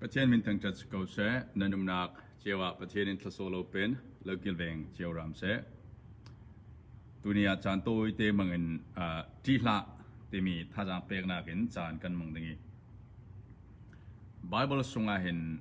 Pathian min thangṭhat si ko seh. Nan umnak cio ah Pathian in thlasawh lo pen lo kilveng cio ram seh. Tuni ah caan tawi te mang in ṭi hlah timi thazaang peknak in caan kan mang ding i Bible sungah hin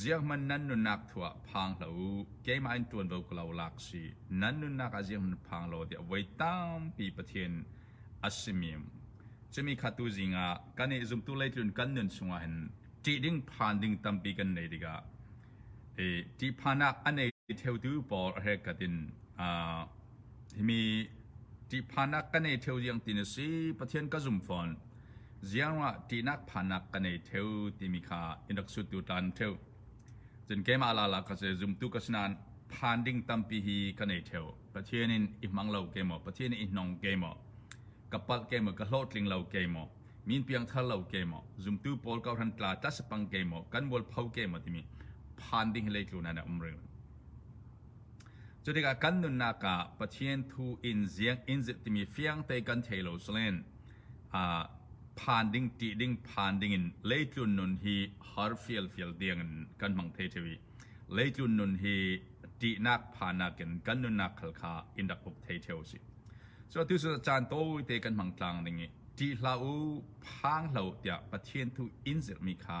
Ziakhman nan nunnak thuah phang hlah u, keimah in ṭuanvo ka lo lak si. Nan nunnak ah ziakhman phang law tiah voi tampi Pathian a simi cumi kha tu zing ah kan i zumtu leitlun kan nun chungah hin ṭih ding phan ding tampi kan nei tikah i ṭihphannak a nei theotu pawl a herkat in Himi ṭihphannak ka nei ṭheo ziang ti na si. Pathian ka zum fawn. Ziangruangah ṭihnak phannak ka nei ṭheo timi kha i rak sut tu ṭan ṭheo. Cun keimah lala ka si, zumtu ka si nain phan ding tampi hi ka nei ṭheo. Pathian in i hmang lo ke maw, Pathian in i hnong ke maw, ka palh ke maw, ka hlawhtling lo ke maw, min piangthar lo ke maw, zumtu pawl ka hran tla tlasapang ke maw, kan mualpho ke maw timi phan ding hi leitlun ah na um rih. Cu tikah kan nunnak ah Pathian thu in ziak in zilh timi fiangte kan thei lo salen aa phan ding, ṭih ding, phan dingin leitlun nun hi har fialfial tiangin kan hmang thei ṭheu i leitlun nun hi ṭihnak phannak in kan nunnak khal kha in rak uk thei ṭheu a si. Cu atu cu caan tawite kan hmang tlang ding i ṭih hlah u, phang hlah u tiah Pathian thu in zilhmi kha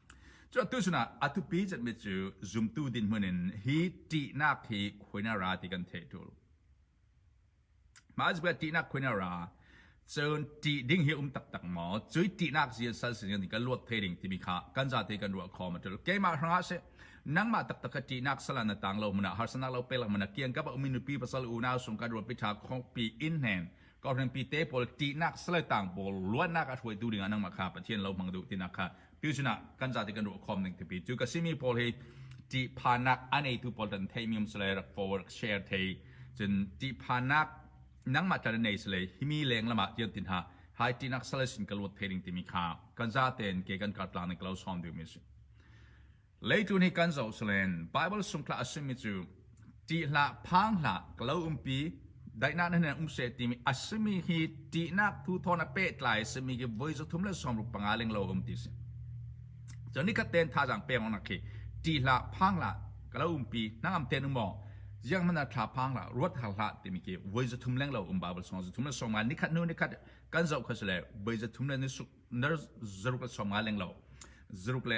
Cuka tu sinah a thupi citmi cu zumtu dinhmun in hi ṭihnak hi khuinara ti kan theih ṭul. Mah cabuah ṭihnak khuinara cun ṭih ding hi um taktak maw? Cu ṭihnak zia sal sin kan kan luat thai ding timi kha kan zate kan ruah khawm a ṭul. Keimah hrangah si nangmah taktak ka ṭihnak sala na tang lo mana harsanak lo pelak mana kiang ka mi nupi pasal unau sung kan ruat pitha khongpi in hnen kohrenpi te pawl ṭihnak sale tang pawl luannak a hruaitu dingah nangmah kha Pathian lo hmang duh tinak kha tu sinah kan zate kan ruah khawm ning tipi cu ka simi pawl hi ṭihphanak a neitu pawl dan thei mi sale rak forward share thei cun ṭihphanak nangmah tar nei sale himi leng lama tian tin ha hai ṭinak sale sin ka luat thei ding timi kha kan zate in ke kan kar tlang ning kalo som ding mi si Leitu nih kan zoh salen Baibal sungthlak a simi cu ṭih hlah, phang hlah, ka lo umpi, daihnak na hnen um seh timi a simi hi ṭihnak thu thawng na pehtlai a simi khi voi zathum le sawmruk panga ling lo um ti a si. Cun nikhat ten thazaang pek awknak khi ṭih hlah, phang hlah, ka lo umpi, hnangam ten um maw, ziang hmanh thla phang hlah, ruat har hlah timi khi voi zathum leng lo um Baibal sawm zathum le sawmnga nikhat hnu nikhat kan zoh kha sile voi zathum le nisuk nar zaruk le sawmnga leng lo zaruk le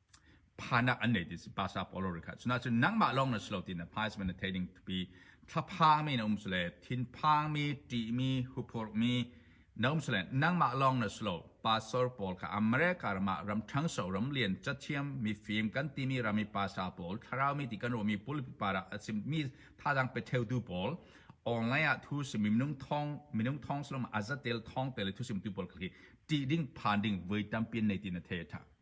phanak an nei ti si pastor Paulo ri kha cuna cun nangmah lawng na si lo ti na phais men na thei ding thupi thlaphangmi na um sule thinphangmi ṭihmi huphurmi na um sule nangmah lawng na si lo pastor Paul kha America ramah ram ṭhangso ram lian cathiam mifim kan timi rami pastor Paul thlaraumi ti kan ruami pulpi para a simmi thazang pe theutu Paul online ah thu sim minung thong minung thong slom azatel thong tele thu sim tu pol kha ṭih ding phan ding voi tampi nei ti na thei tha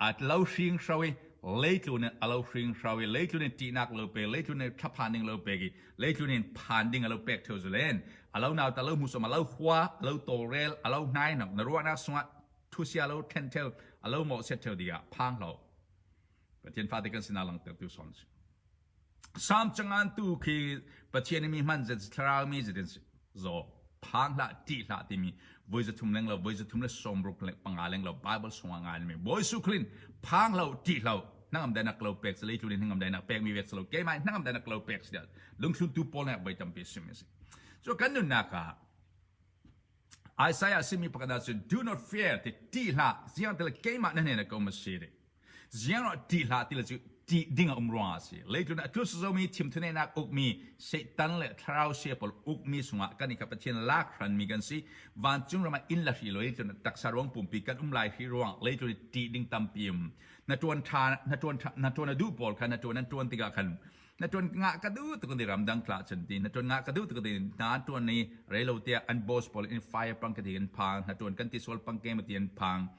A tlo hringhro i leitlun in a lo hringhro i leitlun in ṭihnak a lo pek, leitlun in thlaphan ding a lo pek i leitlun in phan ding a lo pek theo zulen. A lo nau ta lo hmusom, a lo hua, a lo tawlrel, a lo hnainok, na ruahnak sungah thusia lo ṭhen theo, a lo mawh set theo dingah phang hlo. Pathian fate kan sinah langtertu son si. Salm cangantu khi Pathian nih mi hman thlaraumi zetin zaw phan hlah ti hlah timi voi zathum leng lo voi zathum le sawmruk le panga leng lo Bible sungah nganmi Bawi Jesuh Khrist phang hlo ti hlo hnangam dainak lo pek salei tlulin hnangam dainak pekmi vek salo keimah hnangam dainak lo pek si lungthluntu Paul nih voi tampi sim isi so kan nunnak ah Isaiah simi pakhat ah cun do not fear ti ti hlah ziang tel keimah nan hnen ko ma si Ziangah ṭih hlah ti le cu ṭih ding a um ruangah a si. Leitlun ah tlus zomi thimthuneinak ukmi Satan le thlarau sia pawl ukmi sungah kan i kha Pathian lak hranmi kan si. Vancung ram ah inn le hri law leitlun ah taksa ruang pumpi kan um lai hri ruang leitlun i ṭih ding tampi um. Na ṭuan ṭha na ṭuan ṭha na ṭuan a duh pawl kha na ṭuan an ṭuan tikah khan na ṭuan ngah ka duh tuk ti ramdang tla chan ti na ṭuan ngah ka duh tuk ti na ṭuan ni reilo tiah an boss pawl in fire pang ka ti kan phang na ṭuan kan ti sual pang ke ma ti an phang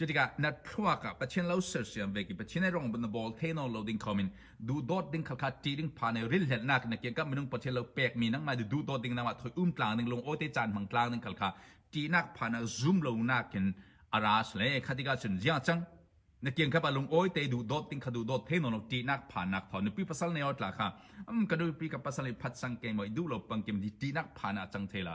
Cutikah na thluak ah Pathian lo sersiam ve ki Pathian ai rong na bol theno lo ding khomin duhdawt ding kha kha ṭi ding pha ne rilhlennak na kiang ka minung Pathian lo pek mi nang ma duhdawt ding nama thoi um tlang ding lung ote caan hmang tlang ding kha kha ṭinak pha na zum lo nak in aras le khatika cun jiang chang na kiang ka pa lung oi te du dot ding kha du dot the no no ti nak pha nak tho nupi pasal ne ot la kha am ka nupi ka pasal ne phat sang ke moi du lo pang kim ti ti nak pha na chang the la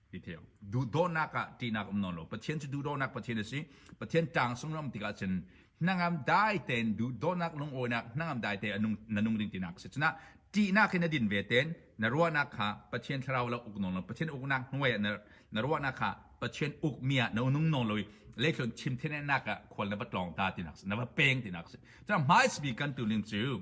Detail. Duhdawhnak ah ṭihnak um nawn lo. Pathian cu duhdawhnak Pathian a si. Pathian ṭang sunglawm tikah cun hnangam dai tein duhdawhnak lungawinak hnangam dai tein nung, na nung ding tinak a si. Cunah ṭihnak in na din ve ten na ruahnak kha Pathian thlarau la uk nawn lo. Pathian uknak hnuai ah na, na ruahnak kha Pathian ukmi ah na nung nawn lo i leithlon chim thennak ah khual na va tlawng ta tinak a si. Na va peng tinak a si. Cunah hmaismi kan tuning cu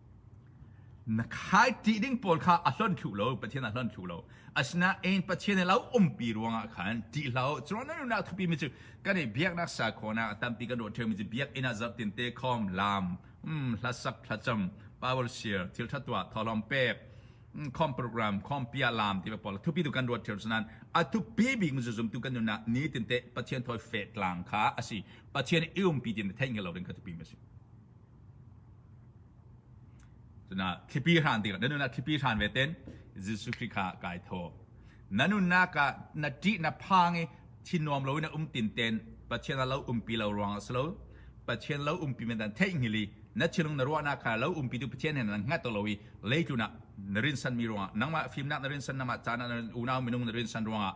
Na khaiti ding pawl kha a hlonh thlu lo, Pathian a hlonh thlu lo. Asinain Pathian i lo umpi ruangah khan ṭih hlah u. Cuan na nunnak thupimi mi cu kan i biaknak sakhaw a tampi kan ruah ṭheumi cu biakinn ah zarhtinte khawm, laam, mm, hlasak, thlacam, power share, thilṭha tuah, thawhlawm pek, mm, khawm program, khawm pia, laam tiva pawl thupi tu kan ruat ṭheu nain a thupi bik mi cu zumtu kan nunnak nitinte Pathian thawi fe tlang kha a si. Pathian i umpi tin theih ngel lo ding kha thupi mi a si. Cunak thlipi hran tikah na nunah thlipi hran ve ten Jesuh Khrih kha kai tho. Na nunnak ah na ṭih na phang i thinuam loin na um tin ten Pathian a lo umpi lo ruang a si lo. Pathian lo umpi men dan theihnghil i na thinlung na ruahnak kha lo umpi tu Pathian hen nan hngat lo i leitlunah na rinsanmi ruangah nangmah fimnak na rinsan nangmah caan ah unau minung na rinsan ruangah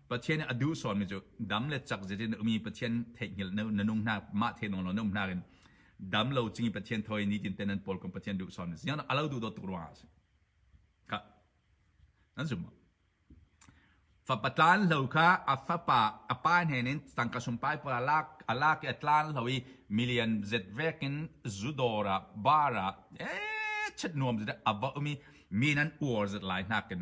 Pathian nih a duh sawnmi cu dam le cak zit in ummi Pathian theihnghilh na nung hna mah theinung lo na um hna in dam lo cing i Pathian thoi ni tin ten nan pawl kom Pathian duh sawn si a lo duh dawt tuk ruang ah si ka nan zum fa patlan lo kha a fapa a pa hne nin tangka sum pai pa lak alak i atlan lo i million zet vekin zudora bara e chet nuam zet aba umi mi nan uor zet lai nakin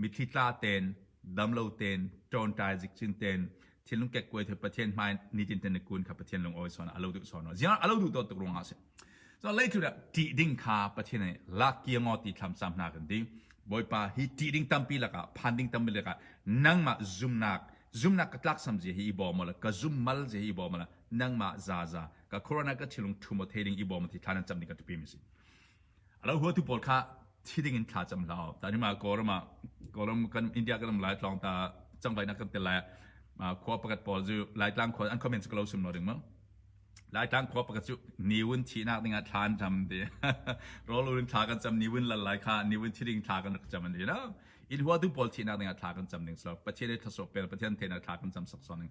Mitthli tla ten, dam lo ten, ṭawnṭai zikcin ten, thinlung kekkuai thut Pathian hmai nitin ten le kun kha Pathian lungawi sawn a lo duh sawn ziang a lo duh dawt tuk ruang ah si so lei thura ṭih ding kha Pathian nih lak kia ngo ti thlam sam hna kan ding Bawipa hi ṭih ding tampi lakah phan ding tampi lakah nangmah zumnak zumnak ka tlak sam zia hi i bawm la ka zum mal zia hi i bawm la nangmah za za ka corona ka chilung thumo thei ding i bawm ti thlan cam ding ka tupi mi si A lo huatu pawl kha thi dingin thla cam hlah. Ta ni ma Kawlram ah Kawlram kan India kan ram lai tlawng ta cangvainak kan tel lai khua pakhat pawl cu Laitlang khua an comment cu kalo sum lo ding ma. Laitlang khua pakhat cu niwun thihnak dingah thla an cam ti. Rolun thla kan cam niwun lalai kha niwun thi ding thla kan rak cam an ti. In huatu pawl thihnak dingah thla kan cam ding so. Pathian ei thaso pel Pathian theina thla kan cam sak so ning.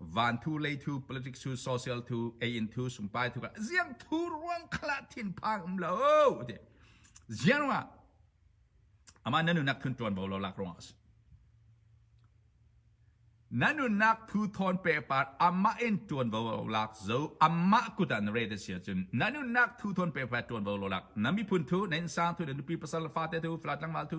van thu lei thu politic thu social thu ei in thu sumpai thu ka ziang thu ruang khala thin phang um lo ti ziang ma ama nanu nak thun tuan bo lo lak rong as nanu nak thu thon pe par amma in tuan bo lak zo amma kutan re de sia chun nanu nak thu thon pe pa tuan bo lo lak nami phun thu nen sang thu de nupi pasal fa te thu flatlang mal thu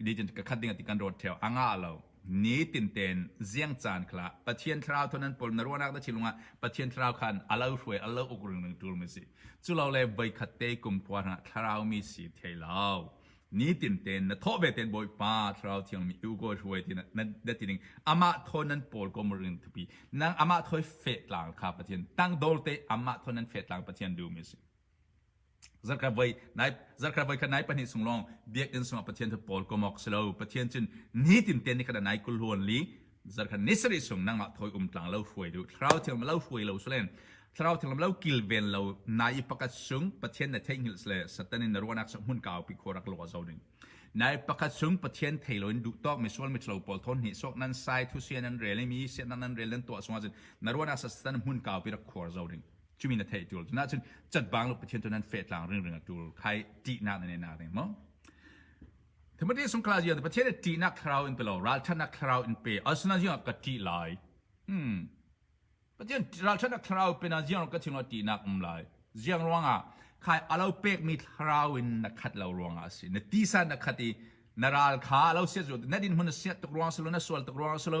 religion ka khat ding ti kan rot theo anga lo ni tin ten ziang caan khala pathian thlarau thon an pol na ruanak na chilung ah pathian thlarau khan alo hruai alo uk ring ring tul mi si chulo le voi khat te kum khua na thlarau mi si theilo ni tin ten na tho ve ten boy pa thlarau thiang mi u go hruai tin na tining ama thon nan pol ko ring thupi nang ama thoi fe tlang kha pathian tang dol te ama thon nan fe tlang pathian du mi si Zarhkhat voi khat nai pahnih chung lawng biakinn sungah Pathian cu Paul komawk si lo. Pathian cun nitin ten ni khat nai kul huan li zarkhat ni sarih chung nangmah thoi um tlang lo hruai du thlarau thiang lo hruai lo sule thlarau thiang lo kilven lo nai i pakat chung Pathian na theihnghilh sle satan in na ruanak sak mun kau pi khorak lo zo ding nai pakat chung Pathian thei lo in du tok mi sual mi thlo paul thon ni sok nan sai thu sian nan rel mi sian nan rel nan to sungah jin na ruanak sak satan mun kau pi rak khor zo ding cumi na theih tur na cun chatbang lo pathian tu nan fe tlang ring ring a tur khai ti na na na ring mo Timothy sungkla zia pathian ti na thlarau in pelo ralchan na thlarau in pe asna zia ka ti lai hmm pathian ralchan na thlarau pe na ziang ka thingo ti nak um lai ziang ruanga khai alo pek mi thlarau in na khat lo ruanga si na ti san na khat i na ral kha alo se zo na din mun se tuk ruang selo na sual tuk ruang selo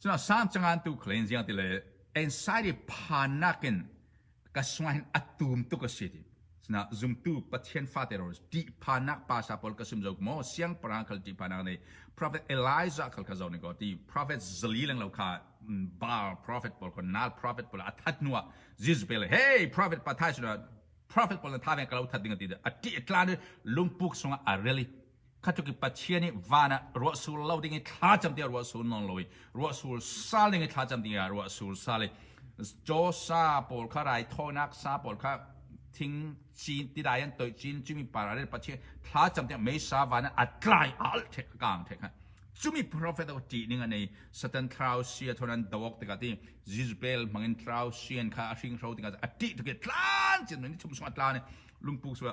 Cun a sang cangan tu kha len ziang ti le ensai i phannak in ka sungah hin a tum tuk a si ti. Sinah zumtu Pathian fate ro ṭih phannak pasa pawl ka sum zo maw siangpahrang khal ṭih phannak nih prophet Elijah khal kha zo ni ko ti prophet zali lang lo kha Baal prophet pawl kha nal prophet pawl a that hnu ah Jesus pe le hey prophet pa thai suna prophet pawl na tha veng ka lo that ding a ti a ṭih a tlan i lungpuk sungah a reli kha tluk i Pathian i van ah ruahsul lo ding i thla cam tiah ruahsul non lo i ruahsul sal ding i thla cam ding ah ruahsul sal i Joe sa pawl kha raithawinak sa pawl kha thing cin tidai an toih cin cumi para le Pathian thla cam tiah meisa van ah atlai al the kang the kha cumi prophet o ti ning anei satan thlau sia thonan dawok tika ti jizbel mangin thlau sian kha a hring ro tika ati to ke tlan chin ni thum sung atla ne lungpuk suwa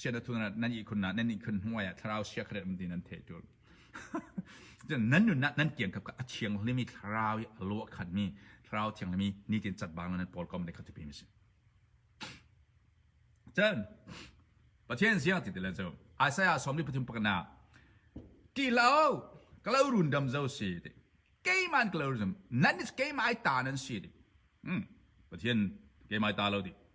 siana thun nan ihkhun na nan ihkhun hnuai ah thlarau sia kharet um ti nan the tul nan nun nan kiang kap ka a chiang limi thlarau i lo khan mi thlarau thiang limi ni tin chat bang nan pol kom de khati pim si chan pathian sia ti tilan cho isaiah somli pathum pakana ti lao kalau run dam zo si te keiman kalau run nan is keimai ta nan si te hmm pathian keimai ta lo ti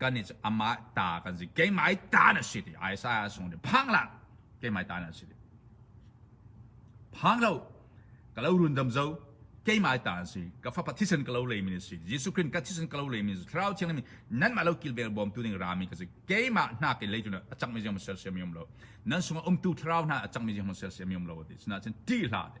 kan i amah ta kan si keimah ta na si ti Isaiah sung ti phang lang keimah ta na si ti phang lo ka lo rundam zo keimah ta na si ka fa pathisen ka lo le mi si Jesu Christ ka thisen ka lo le mi thlarau thiang mi nan ma lo kilbel bom tu ning rami ka si keimah hna ke le tu na achang mi jam sel sem yom lo nan sunga umtu thlarau hna achang mi jam sel sem yom lo ti sina chen ti hla te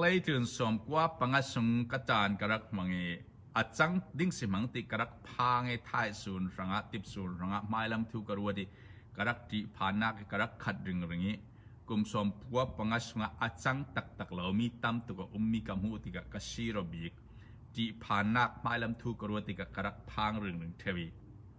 Leitlun sawm kua panga sung ka taan ka rak hmang i a cang ding si hmang ti ka rak phang i thaisuun hrangah tipsuun hrangah hmailam thu ka ruat i ka rak ṭih phannak i ka rak khat ringring i kum sawm kua panga sungah a cang taktak lomi tam tuk a ummi ka hmuh tikah ka sir a bik ṭih phannak hmailam thu ka ruat tikah ka rak phang ringring ṭheu i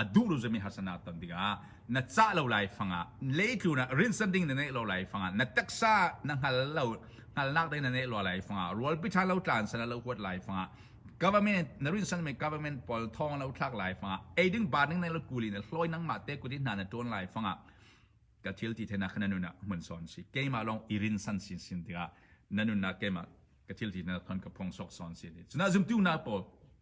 a duh lo zami harsanak ton tikah na cah lo lai fangah leitlunak rinsan ding na neih lo lai fangah na taksa na hngal lo hngalnak ding na neih lo lai fangah rualpi tha lo tlan sana lo huat lai fangah government na rinsan mi government pawl thong lo thlak lai fangah eiding ba ning nei lo kuli na hloi nang ma te kuti hna na tuan lai fangah ka thil ti thena khana nuna mun son si keima long irin san sin sin tika nanuna keima ka thil ti na thon ka phong sok son si ni chuna zum tu na po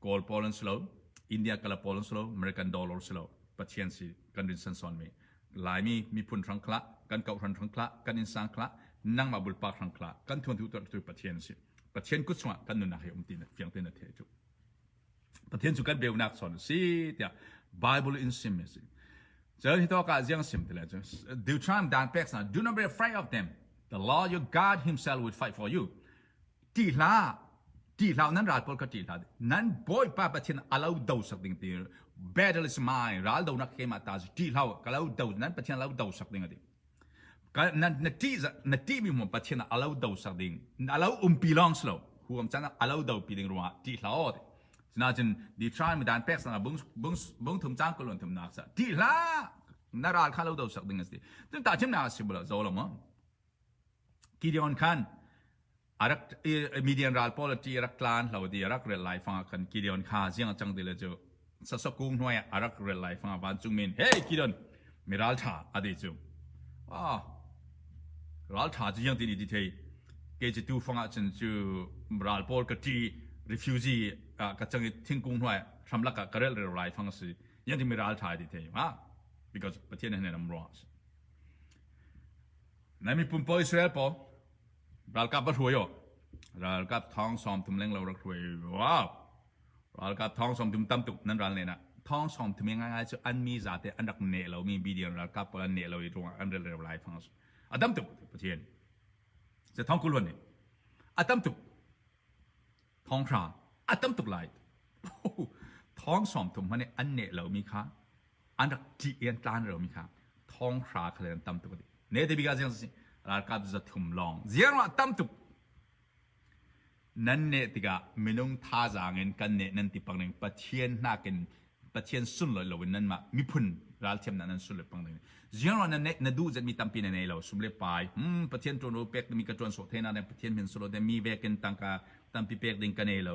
Kawl pawl an si lo, India kala pawl an si lo, American dollar si lo, Pathian si kan rin san sawn mi. Laimi miphun hrang khla, kan kau hrang hrang khla, kan insang khla, nangmah bulpa hrang khla, kan thuan thu tu Pathian si. Pathian kut sungah kan nunnak hi um ti na fiang te na the chu. Pathian chu kan beunak sawn si tia Bible in sim mi si. Chớ hi to ka jiang sim te le chu. Deuteronomy dan pek sa do not be afraid of them. The Lord your God himself will fight for you. Ṭih hlah, ṭih hlah, nan ral pawl kha ṭih hlah. Nan Bawipa Pathian a lo do sak ding ti battle is mine. Ral do nak he ma ta ṭih hlah, ka lo do nan Pathian a lo do sak ding ati. na na ṭih na ṭih mi mu Pathian a lo do sak ding. A lo umpi long slo. Huam chan a lo do pi ding ruang ṭih hlah. Sinachin di try mi dan pek sana bung bung bung thum chang kulon thum nak sa. Ṭih hlah, na ral kha lo do sak ding ati. Tun ta chim na si bula zo lo mo. Gideon khan Midian ral pawl ṭih i rak tla an hlo dih i a rak rel lai fangah khan Gideon kha ziangcang ti le cu sasawk kung hnuai ah a rak rel lai fangah vancungmi in “Hei Gideon, mi ralṭha,” a ti cu. Aa, ralṭha cu ziangtin i ti thei? Kei cu tu fangah cun cu ral pawl ka ṭih i refuji ah ka cang i thingkung hnuai hramlak ah ka relreu lai fang a si. Ziangtin mi ralṭha i ti thei hnga? Because Pathian he hnen am ruang a si. Nan miphun paoh Israel paw ralkap va hruai aw. Ralkap thawng sawm tum leng lo rak hruai. Wow! Ralkap thawng sawm tum tam tuk nan ral len ah thawng sawm tum ngai cu an mi zate an rak ne lo mi BDN ralkap pawl an ne lo i ruangah an rel rel lai thang a tam tuk Pathian. Se thawng kul wan ni. A tam tuk thawng hra a tam tuk lai. Thawng sawm tum hmani an ne lo mi kha an rak ṭih i an tlan romi kha thonghra kha le an tam tuk a ti ne te bika ziang si ralkap za thum lawng ziang ruah tam tuk nan neh tikah minung thazaang in kan neh nan ti pang ning pathian nakin pathian sun lo loin nan mah miphun ralthiam nan nan sun lo pang ning ziang ruah nan neh na duh zet mi tampi na nei lo sum le pai hmm pathian ṭuan ru pek mi ka ṭuan so thena ne pathian min solo te mi vekin tangka tampi pek ding ka nei lo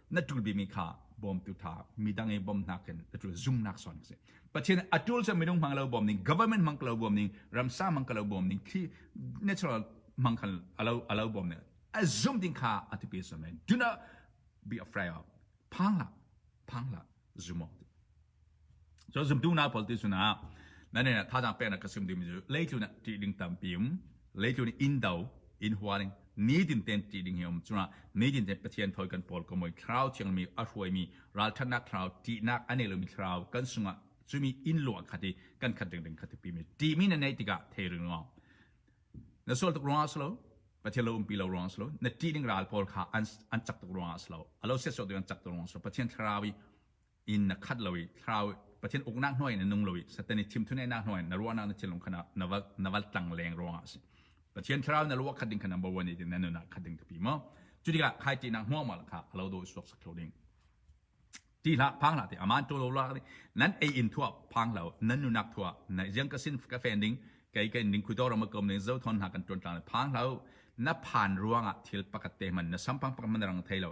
na ṭul bimi kha bawmtu ṭha midang i bawmhnak in na ṭul zumnak sawn a si pathian a ṭul cu minung hmang lo bawm ning government hmang lo bawm ning ramsa hmang lo bawm ning thli natural hmang alo bawm ning a zum ding kha a ti pe so men do not be afraid of phang la phang la zumo So zumtu na pol ti sunah nan nih thazaang peknak ka sim ding mi cu leitlun ah ṭih ding tampi um leitlun in indo in hualing nitin ten ṭih ding hi um cuna nitin ten pathian thoi kan pol ko moi thlarau thiang mi a hruai mi ralthannak thlarau ṭihnak a nei lomi thlarau kan sungah cumi in luang khati kan khat ding ding khati pi mi ṭih mi na nei tikah thei ring lo na sual tuk ruang slo pathian lo umpi lo ruang slo na ṭih ding ral pawl kha an an chak tuk ruang slo alo set so tu an chak tuk ruang slo pathian thlarau i inn na khat lo i thlarau Pathian uknak hnuai in na nung lo i Satan i thimthuneinak hnuai in na ruahnak na thinlung kha na va na va tlang leng ruangah a si Pathian thlarau na ruah khat ding kha number one i na nunah khat ding tipi maw cu tikah khai ti nak hmuang mal kha alo do suak sak lo ding ti hla phang hla ti aman to lo la nan ei in thua phang lo nan nunak thua na jang ka sin ka fan ding kai kai ding khudo ram kom ding zo thon ha kan ton tlan phang lo na phan ruangah thil pakat te man na sampang pak man rang thei lo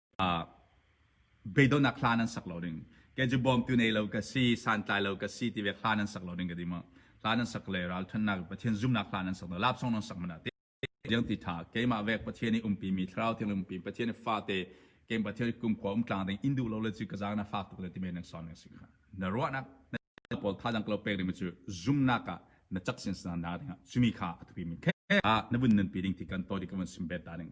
beidawnak hla nan sak lo ding ke cu bawmtu nei lo ka si santlai lo ka si ti ve hla nan sak lo ding ka di ma hla nan sak le ral thannak pathian zumnak hla nan sak lo lap song nan sak mana te jeng ti tha keimah vek pathian i umpi mi thlarau thing umpi pathian i fa te kem pathian kum khwa um tlang ding indu lo le chu ka zang na fa tuk le ti men son ning sik na ro nak na pol tha dang lo pek ni chu zumna ka na chak sin san na ding chumi kha atu mi khe na bun nan pi ding ti kan to di ka man sim bet da ding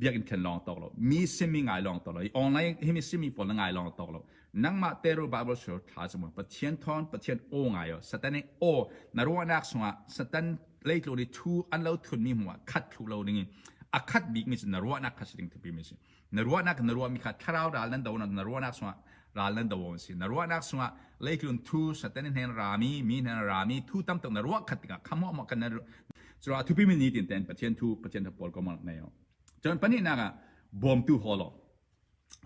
biakinn khen lawng tok lo mi simi ngai lawng tok lo i online hi mi simi pawl na ngai lawng tok lo nangmah teru bible shul thla zumun pathian thon pathian aw ngai o satan i aw na ruahnak sungah satan leitlo ni thu an lo thun mi hmuah khat thlu lo ding in a khat bik mi sin na ruahnak kha si ding thupi mi si na ruahnak na ruahmi kha thlarau ral nan do na ruahnak chungah ral nan do an si na ruahnak chungah leitlun thu satan hnen rami mi hnen rami thu tam tuk na ruah khat tikah khamwa ma kan na cura thupi min ni tin ten pathian thu pathian thu pol ko mal nei cun panih nak ah bawmtu holo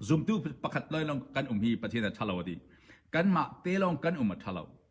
zumtu pakhat loilong kan um hi pathian a thalo adi kan ma telong kan um a thalo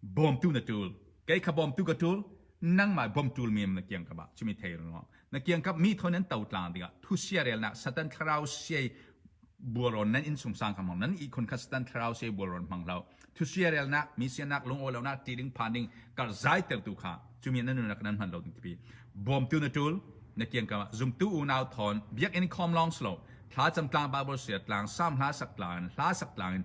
bawmtu na tul kei kha bawmtu ka tul nangmah bawm tul mi na kiang ka ba chumi thei rung na kiang ka mi thon nan to tlang ding thu sia rel na satan thlarau siai buaron nan in sungsang kham nan i khun kha satan thlarau siai buaron mang lo thu sia rel na mi sia nak lung olo na tiring phan ding kar zai ter tu kha chumi nan nu kan man lo ding tipi bawmtu na tul na kiang ka zumtu unau thon biak in khom long slow thla cham tlang babol sia tlang sam hla sak tlang hla sak tlang in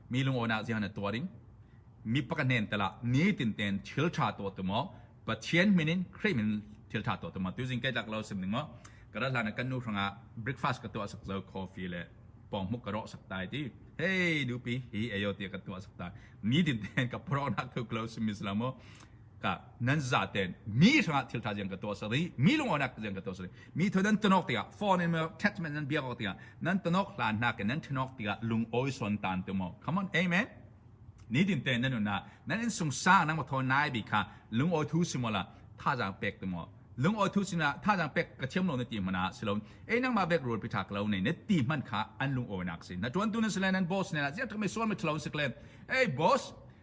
mi lungawinak zia na tuar in mi pakhat nen tala ni tin ten thil tha to tu mo pathian min in khrih min thil tha to tu mo tu jing kai lak lo sim ning mo kara hlan kan nu hranga breakfast ka to sak zo coffee le pong mu karo sak tai ti hey nu pi hi ayo ti ka to sak tai ni tin ten ka pro nak thu close miss la mo nan za ten mi hrangah thil tha ziang ka tuah sari mi lunganak ziang ka tuah sari mi thoi nan tonok tingah foreign attachment nan biak ok tingah nan tonok hlan na ke nan thenok tingah lung oi son tan tu mo come on amen ni din te nan na nan in sung sa nan mo thon nai bi kha lung oi thu simola tha jang pek tu mo lung oi thu sina tha jang pek ka thiam lo na ti mana silon ei nang ma bek rul pita klo ne ne ti man kha an lung oi nak si na tuan tu na silen nan boss ne la zia to me suan me thlo sikle ei boss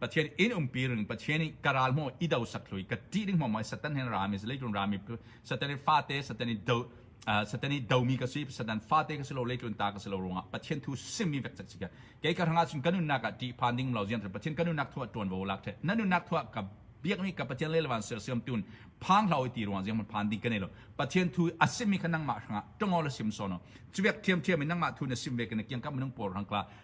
Pathian inn umpi ring Pathian nih ka ral maw i do sak hlui ka ṭih ding maw Satan hin rami se leitlun rami Satan i fate Satan i do Satan i domi ka si Satan fate ka si lo leitlun ta ka si lo ruangah Pathian thu simmi vek chak si ka kei ka rangah cun ka nunnak ah ṭih phan ding lo zian Pathian ka nunnak thu ah ṭuan vo lak ṭhe na nunnak thu ah ka biakmi ka Pathian le lawan sersiam tun phang hlau i ti ruang ziang phan ding kan nei lo Pathian thu a simmi kha nangmah hrangah ṭongo la sim sono chuwek thiam thiam in nangmah thu na sim ve kana kiang kam minung por rangkla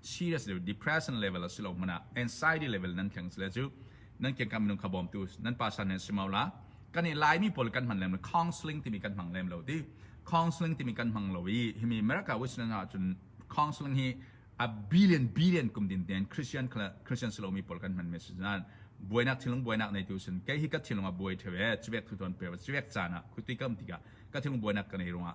serious le depression level a si lo hmanh ah anxiety level nan thleng sile cu nan kian kan minung kha bawmtu nan pa san nan si mau la kan i laimi pawl kan hman lem lo counseling timi kan hmang lem lo ti counseling timi kan hmang lo i himi America Western ah cun counseling hi a billion billion kum din ten Christian Christian silomi pawl kan hman message nan buainak thilung buainak nei tu sin kei hi ka thilung a buai thewe chivek thu ton pe civek cana khuti kam tika ka thilung buainak ka nei runga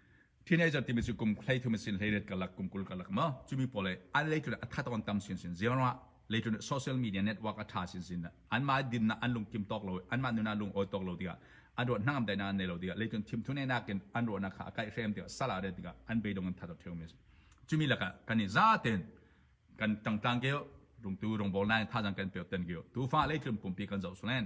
Teenager timi cu kum hlei thum sin hlei ret kalak kum kul kalak ma cumi pawl le an leitlun a that on tam sin sin zero leitlun social media network a tha sin sin an ma din na an lung kim tok lo an ma nuna lung oi tok lo tiga an ro hnangam dai na ne lo tiga leitlun thim thune na kin an ro na kha akai hrem tiga sala re tiga an beidong an thato theu mes cumi laka kanin za ten kan tangtang ke rungtu rungbol nai tha jang kan pe ten ke tu fa leitlun pumpi kan zo sunen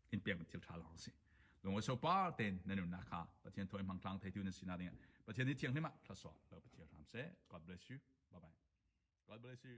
in pek thil tha lawng si lunga so par ten nan nun na kha pathian thoi mang tlang theitu na sina ding pathian ni thiang hlima thlaso lo pathian ram se god bless you bye bye god bless you